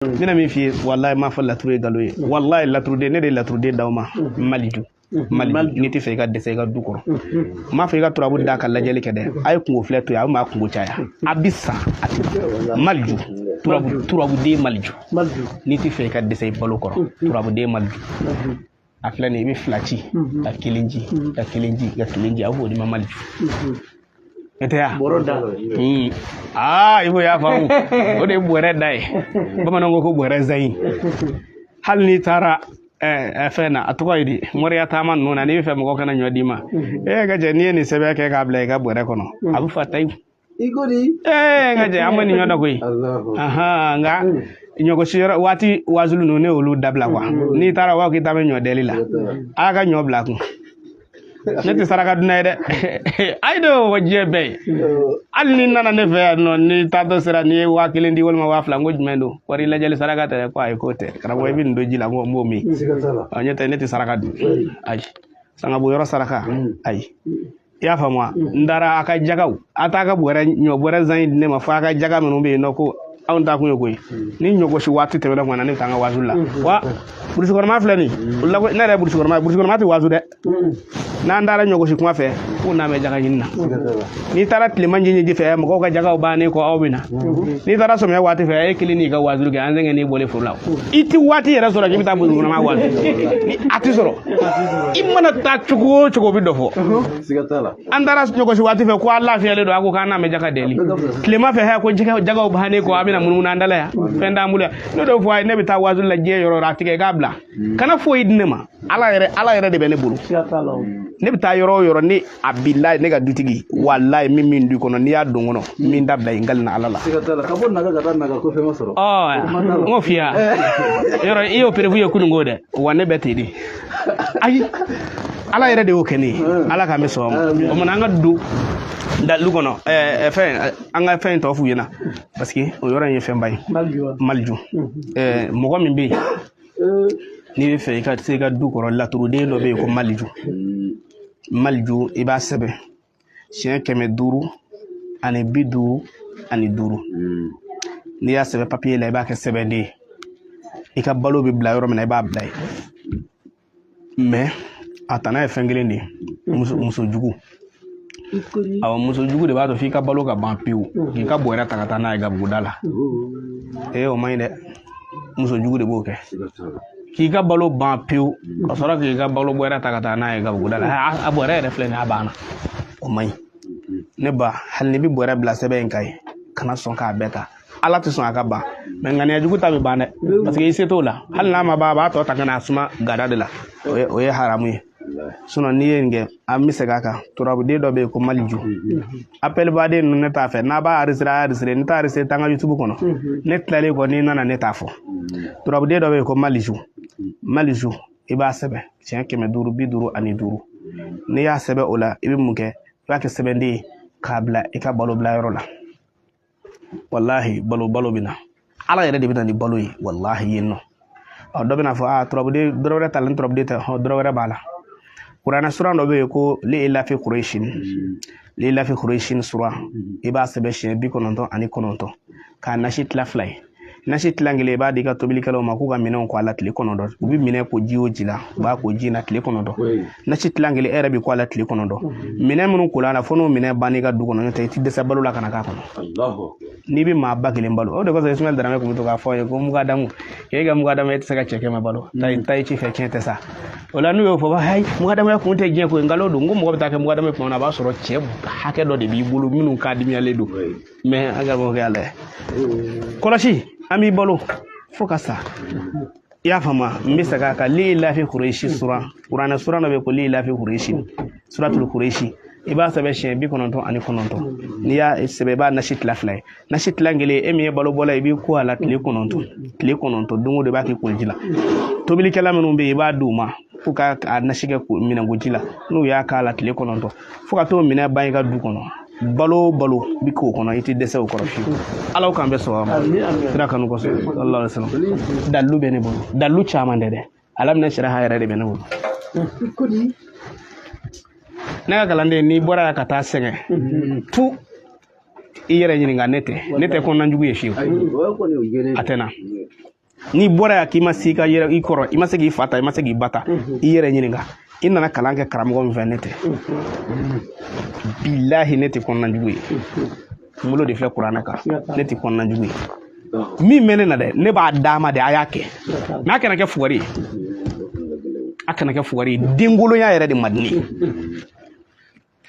n bɛna min f'i ye walayi n m'a fɔ laturu ye nkalon ye walayi laturuden ne de ye laturuden d'aw ma maliju mali n'i tɛ fɛ i ka dɛsɛ i ka du kɔrɔ n m'a fɔ i ka turabu da ka lajɛli kɛ dɛ a ye kunko filɛ to yen a bɛ maa kunko caya a bɛ sa a tɛ maliju turabu turabuden maliju n'i tɛ fɛ i ka dɛsɛ i balo kɔrɔ turabuden maliju a filɛ nin ye i bɛ fila ci mhm. ka kelen ci mhm. ka kelen ci ka kelen ci a b'o d'i ma maliju mhm. o tɛ yan bɔrɔ da hmm. aa i ko y'a faamu o de ye bɔrɛ da ye bamananw ko ko bɔrɛ zayi hali n'i taara Eh, eh, fɛn na a tɔgɔ ye di moriya taama ninnu na n'i bɛ fɛ mɔgɔw kana ɲɔ d'i ma e ka jɛ n'i ye nin sɛbɛn kɛ k'a bila i ka bɔrɛ kɔnɔ a bɛ fa tayi iko di ee nka jɛ an bɛ nin ɲɔ dɔ koyi nka ɲɔgosiyɔrɔ waati wazulu ninnu ne y'olu dabila kuwa mm-hmm. n'i taara wa k'i ta bɛ ɲɔ deli la a ka ɲɔ bila kun ne tɛ saraka dunna ye dɛ ayi de o diɲɛ bɛɛ ye hali n'i nana ne fɛ yan nɔ n'i taatɔ sera n'i ye waa kelen di walima waa fila n ko jumɛn don wari lajɛli saraka tɛ dɛ ko ayi k'o tɛ karamɔgɔ i bɛ nin don ji la n ko n b'o min ɔ ɲɛ tɛ ne tɛ saraka dun ayi sangabɔ yɔrɔ saraka mm. ayi i y'a faamu wa n taara a ka jagaw a t'a ka bɔrɛ ɲɔ bɔrɛ zan in di ne ma fo a ka jaga minnu bɛ yen nɔ ko anw taa kun ye koyi ni ɲɔgosi waati tɛmɛna kuma na ne bɛ taa n ka wazu la wa burusi kɔnɔma filɛ nin o la ne yɛrɛ ye burusi kɔnɔma ye burusi kɔnɔma tɛ wazu dɛ n'an taara ɲɔgosi kuma fɛ k'u na bɛ jaga ɲini na n'i taara tilema ɲiniji fɛ mɔgɔw ka jagaw bannen kɔ aw bɛ na n'i taara sɔmiya waati fɛ e kelen n'i ka wazu kɛ an sɛgɛn n'i bɔlen foro la i tɛ waati yɛrɛ sɔrɔ k'i bɛ taa burusi kɔnɔma wazu ni a tɛ sɔrɔ i mana taa cogo o cogo o bɛ dɔ fɔ an taara ɲɔgosi waati fɛ ko an lafiyalen don a ko k'an na bɛ jaga deli tilema fɛ hɛ ko jagaw bannen kɔ a bɛna munumunu an dala yan fɛn t'an bolo yan ne dɔw fɔ a ye ne bɛ taa wazu la diɲɛ yɔrɔ a tigɛ k'a bila kana foyi di ne ma ala yɛrɛ ala yɛrɛ de bɛ ne bolo ne bɛ taa yɔrɔ o yɔrɔ ne a bilayi ne ka dutigi walayi min min du kɔnɔ n'i y'a don kɔnɔ min dabila i nkalon na ala la. siga t'a la ka bɔ naga ka taa naga ko fɛn ma sɔrɔ. ɔɔ n ko fiya yɔrɔ i y'o preuve ye kununko dɛ wa ne bɛ ten de ayi ala yɛrɛ de y'o kɛ ne ye ala k'an bɛɛ sɔn o ma o tuma an ka don dalu kɔnɔ ɛɛ fɛn an ka fɛn tɔw f'u ɲɛna parce que o yɔrɔ in ye fɛnba ye maliju ɛɛ mɔgɔ min bɛ yen n'i bɛ fɛ i ka se i ka du kɔrɔ laturuden dɔ bɛ yen ko maliju. maliju i b'a sɛbɛn siɲɛ kɛmɛ duuru ani bi duuru ani duuru hmm. n'i y'a sɛbɛn papiye la i b'a kɛ sɛbɛnden ye i ka balo bɛ bila yɔrɔ min na i b'a bila yen mɛ a tana ye fɛn kelen de ye muso muso jugu awɔ muso jugu de b'a to f'i ka balo ka ban pewu k'i ka bɔrɛ ta ka taa n'a ye gabuguda la ee o man ɲi dɛ muso jugu de b'o kɛ k'i ka balo ban pewu ka sɔrɔ k'i ka balo bɔrɛ ta ka taa n'a ye gabuguda la a bɔrɛ yɛrɛ de filɛ nin ye a banna o man ɲi ne ba hali n'i bɛ bɔrɛ bila sɛbɛn in kan i kana sɔn k'a bɛɛ ta ala tɛ sɔn a ka ban mɛ ŋaniya jugu ta bɛ ban dɛ paseke i se t'o la hali n'a ma ban a b'a tɔ ta ka na a suma gada de la o ye haramu ye sinɔn n'i ye nin kɛ an bɛ segin a kan turabuden dɔ bɛ yen ko maliju apɛlibaden ninnu ne t'a fɛ n'a b'a arisere a arisere ne t'a arisere taa n ka yutubu kɔnɔ ne tilalen kɔ n'i nana ne t'a fɔ turabuden dɔ bɛ yen ko maliju maliju i b'a sɛbɛn siɲɛ kɛmɛ duuru bi duuru ani duuru n'i y'a sɛbɛn o la i bɛ mun kɛ i b'a kɛ sɛbɛnden ye k'a bila i ka balo bila yɔrɔ la walahi balo balo bɛ na ala yɛrɛ de bɛ na ni balo ye walahi yen nɔ ɔ dɔ bɛna fɔ aa turabuden dɔrɔ wɛrɛ t'a la ni turabuden tɛ hɔ dɔrɔ wɛrɛ b'a la kuranɛ sura dɔ bɛ yen ko liyi lafi kurayisin liyi lafi kurayisin sura i b'a sɛbɛn siɲɛ bi kɔnɔntɔn ani kɔnɔntɔn k'a nasi tila fila ye nasi tilan kelen i b'a di i ka tobilikɛlaw ma k'u ka minɛnw ko a la tile kɔnɔntɔn u bɛ minɛn ko ji o ji la u b'a k'o ji na tile kɔnɔntɔn nasi tilan kelen e yɛrɛ bɛ ko a la tile kɔnɔntɔn minɛn minnu kola fo n'o minɛn banna i ka du kɔnɔ n'o tɛ i tɛ dɛsɛ balo la ka na k'a kɔnɔ hali n'i bɛ maa ba kelen balo o de kosɔn ismaɛl darame tun bɛ to k'a fɔ a ye ko mugadamu k'e ka mugadamuya tɛ se ka cɛ kɛmɛ balo ta i ci fɛ tiɲɛ tɛ sa o la n'u y'o fɔ hayi mugadamuya kun tɛ diɲɛ ko ye nkalon don n ko mɔgɔ bɛ taa kɛ mugadamu ye tuma min na a b'a sɔrɔ cɛ hakɛ dɔ de b'i bolo minnu ka dimiyalen don mɛ a ka bɔ kɛ ala ye kɔlɔsi an b'i balo fo ka sa i y'a faamu n bɛ segin a kan liyi lafi kuresi suran kuranɛ suran dɔ bɛ ko liyi lafi kuresi suratul kuresi i b'a sɛbɛn siɲɛ bi kɔnɔntɔn ani kɔnɔntɔn n'i y'a sɛbɛn i b'a nasi tila fila ye nasi tila kelen e min ye balo bɔla i b'i ko a la tile kɔnɔntɔn tile kɔnɔntɔn don o don i b'a k'i koliji la tobilikɛla minnu bɛ yen i b'a d'u ma k'u ka a nasi kɛ minɛnkoji la n'u y'a k'a la tile kɔnɔntɔn fo ka t'o minɛn ban i ka du kɔnɔ balo o balo bɛ k'o kɔnɔ i tɛ dɛsɛ o kɔrɔ fiyewu ala k'an bɛɛ sɔrɔ ma kira kanu kosɔn sallallahu alaihi wasallam dalilu bɛ ne bolo dalilu caman tɛ dɛ ala minɛ sira ha yɛrɛ de bɛ ne bolo ne ka kalanden n'i bɔra yan ka taa sɛgɛn tugun i yɛrɛ ɲininka ne tɛ ne tɛ kɔnɔnajugu ye fiyewu a tɛ n na n'i bɔra yan k'i ma se i yɛrɛ kɔrɔ i ma se k'i fa ta i ma se k'i ba ta mhm. i yɛrɛ ɲininka i nana kalan kɛ karamɔgɔ min fɛ ne tɛ mhm. bilahi ne tɛ kɔnɔna jugu ye mhm. n bolo de filɛ kuranɛ kan ne tɛ kɔnɔna jugu ye min bɛ ne na dɛ ne b'a d'a ma de a y'a kɛ mɛ a kana kɛ fugari ye a kana kɛ fugari ye denkolonya yɛrɛ de man di ne ye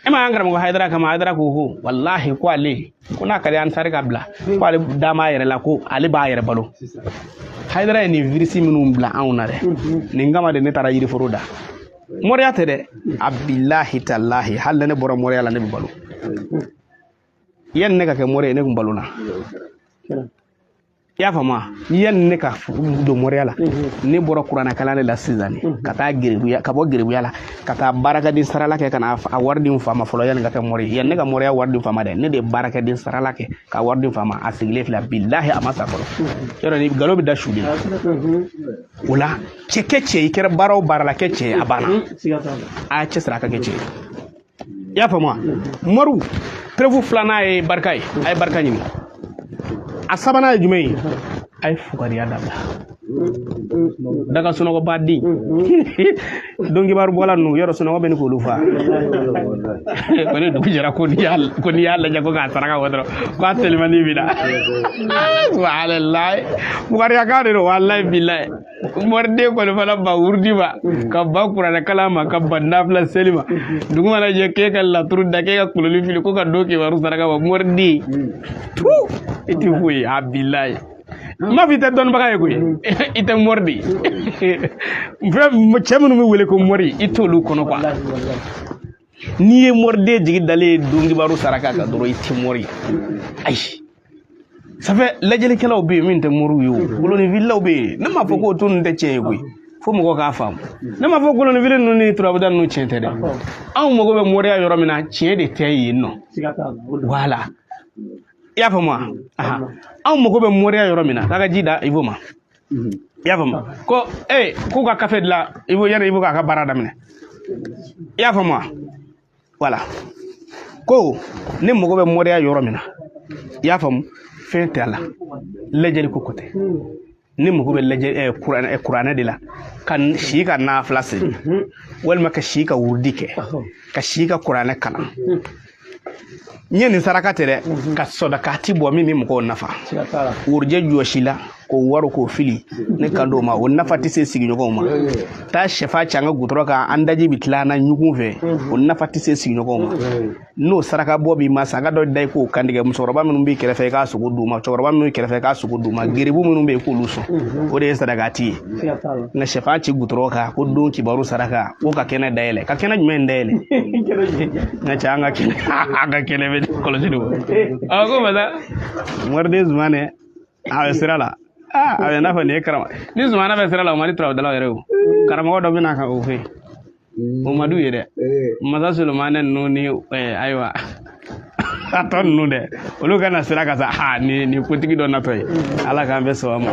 e ma an karamɔgɔ hayidara kan mɛn hayidara ko ko walahi ko ale ko n'a ka di ansari k'a bila ko ale da m'a yɛrɛ la ko ale b'a yɛrɛ balo hayidara ye nin virisi minnu bila anw na dɛ nin kama de ne taara yiriforo da mɔriya tɛ dɛ a bilahi talahi hali ni ne bɔra mɔriya la ne bɛ balo yanni ne ka kɛ mɔri ye ne tun balola i y'a faamu yanni ne ka don mɔriya la ne bɔra kuranɛkalan de la sisan ka taa gerebuya ka bɔ gerebuya la ka taa baarakɛden sarala kɛ ka na a wari di n fa ma fɔlɔ yanni ka kɛ mɔri ye yanni ne ka mɔriya wari di n fa ma dɛ ne de ye baarakɛden sarala kɛ ka wari di n fa ma a sigilen filɛ bilahi a ma sa fɔlɔ yɔrɔ ni nkalon bɛ da su de la o la cɛ kɛ cɛ i kɛra baara o baara la kɛ cɛ ye a banna a y'a cɛ siri a ka kɛ cɛ ye i y'a faamu wa mɔriw perefu filanan ye barika ye a ye barika ɲini a sabanan ye jumɛn ye a ye fugariya dabila daga sunɔgɔba den donkibaru bɔla ninnu yɔrɔ sunɔgɔ bɛ ni k'olu fa ko ni dugu jɛra ko n'i y'a lajɛ ko k'a saraka bɔ dɔrɔn ko a telimanin b'i la subahanallahi fugariya kan de don walayi bilayi mɔriden kɔni fana ban wurudi ma ka ban kuranɛ kalan ma ka ban nafila seli ma dugu mana jɛ k'e ka laturu da k'e ka kolonin fili ko ka donkibaru saraka bɔ mɔriden tu i tɛ foyi ye bilayi n m'a fɔ i tɛ dɔnnibaga ye koyi i tɛ mɔri de ye fɛn cɛ minnu bɛ wele ko mɔri i t'olu kɔnɔ kuwa n'i ye mɔriden jigi dalen ye donkibaru saraka kan dɔrɔn i tɛ mɔri ye ayi sanfɛ lajɛlikɛlaw bɛ yen min tɛ mɔriw ye o kolonifililaw bɛ yen ne m'a fɔ k'a tɔ ninnu tɛ tiɲɛ ye koyi fo mɔgɔw k'a faamu ne m'a fɔ kolonifili ninnu ni turabuda ninnu tiɲɛ tɛ dɛ anw mago bɛ mɔriya yɔrɔ min na tiɲɛ de tɛ yen nɔ wala i y'a faamu wa anw mago bɛ mɔriya yɔrɔ min na k'a ka ji da ibo ma mhm. i y'a faamu ko ee eh, k'u ka kafe dilan ibo yanni ibo k'a ka baara daminɛ i y'a faamu wa wala ko ne mago bɛ mɔriya yɔrɔ min na i y'a faamu fɛn tɛ a la lajɛli ko ko tɛ ne mago bɛ lajɛ eh, kuranɛ eh, kuranɛ de la ka si ka nafila seli walima ka si ka wurudi kɛ ka si ka kuranɛ kalan n ye nin saraka tɛ dɛ mhm. ka sɔdakati bɔ min bɛ mɔgɔw nafa worojɛ jɔsi la k'o wari k'o fili ne kan t'o ma o nafa tɛ se sigiɲɔgɔnw ma taa sɛfan ci an ka gudɔrɔn kan an daji bɛ tila an na ɲugun fɛ mhm. o nafa tɛ se sigiɲɔgɔnw ma n'o saraka bɔ b'i ma saga dɔ da i k'o kantigɛ musokɔrɔba minnu b'i kɛrɛfɛ i k'a sogo d'u ma cɛkɔrɔba minnu b'i kɛrɛfɛ i k'a sogo d'u ma geribu minnu bɛ yen k'olu sɔn mhm. o de ye sadakati ye nka sɛfan ci gudɔrɔn kan ko donkibaru saraka ko ka kɛnɛ dayɛlɛ ka kɛnɛ jumɛn in dayɛlɛ nka cɛ an ka kɛnɛ an ka kɛnɛ bɛ kɔlɔsi de a ko masa mɔriden zumana a bɛ sira la a bɛ n'a fɔ nin ye karamɔgɔnin zumana bɛ sira la o man di turabudalaw yɛrɛ o karamɔgɔ dɔ bɛ na ka o fɛ o man d'u ye dɛ masa solomani ninnu ni ayiwa a tɔ ninnu dɛ olu kana siran ka sa ha ni ni kotigi dɔ natɔ ye ala k'an bɛɛ sɔn a ma